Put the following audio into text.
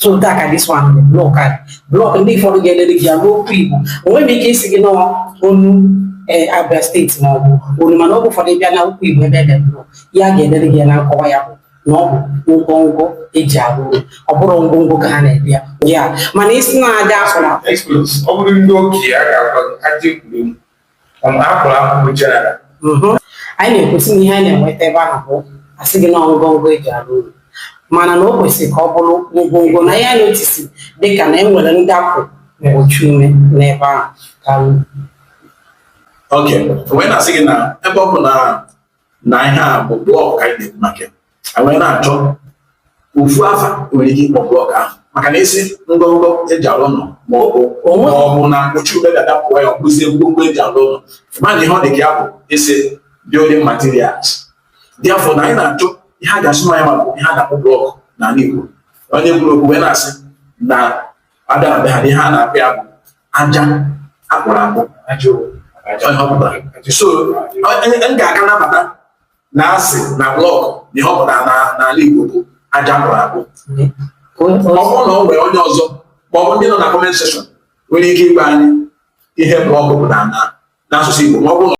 so dịka this one bụ blọk a blọk ndị ụfọdụ ga-edele gị ya n'okwu igbo enwe m ike ịsị gị na ọ bụ onu eh, abia steeti ma ọ bụ onu mana ọ bụ ụfọdụ bịa na okwu igbo ebe e de blọk ya ga-edele gị ya na nkọwa ya bụ na ọ bụ ngwongwo eji arụ ụlọ ọ bụrụ ngwongwo ka ha na-ebi ya ya mana isi na-adị asụ na Experts, ọ bụrụ ndị okenye a ga-agwa gị ajọ egwuregwu Mhm. anyị na-ekwu sị na ihe anyị na-enweta ebe ahụ bụ asị gị na ngọngọ eji arụ ụlọ mana na o kwesịrị ka ọ bụrụ ngwongwo na ị ya notice dịka na enwere ndapụ mgbochi ume n'ebe ahụ karịa. Ok, wee na-asị gị na ebe ọ bụ na na ihe a bụ blọk ka anyị na-ekwu maka wee na-achọ ofu afa e nwere ike ịkpọ blọk ahụ maka na ị sị ngọngọ eji alụ ụnọ ma ọ bụ ma ọ bụ na mgbochi ume ga-adapụ ya ọ bụzie ngwongwo eji alụ ụnọ mana ihe ọ dị ka ya bụ ị sị building materials dị afọ na anyị na-achọ ihe a ga-asụ ma ya ma bụ ihe a na-akpọ blọk n'ala Igbo onye kwuru okwu wee na-asị na a bịa be ha ihe a na-akpọ ya bụ aja akpụrụ akpụ so m ga-aka nabata na asị na blọkụ na ihe ọ pụtara n'ala Igbo bụ aja akpụrụ akpụ ọ bụrụ na ọ nwere onye ọzọ ma ọ bụ ndị nọ na comment section nwere ike ịgwa anyị ihe blọkụ pụtara n'asụsụ Igbo ma ọ bụrụ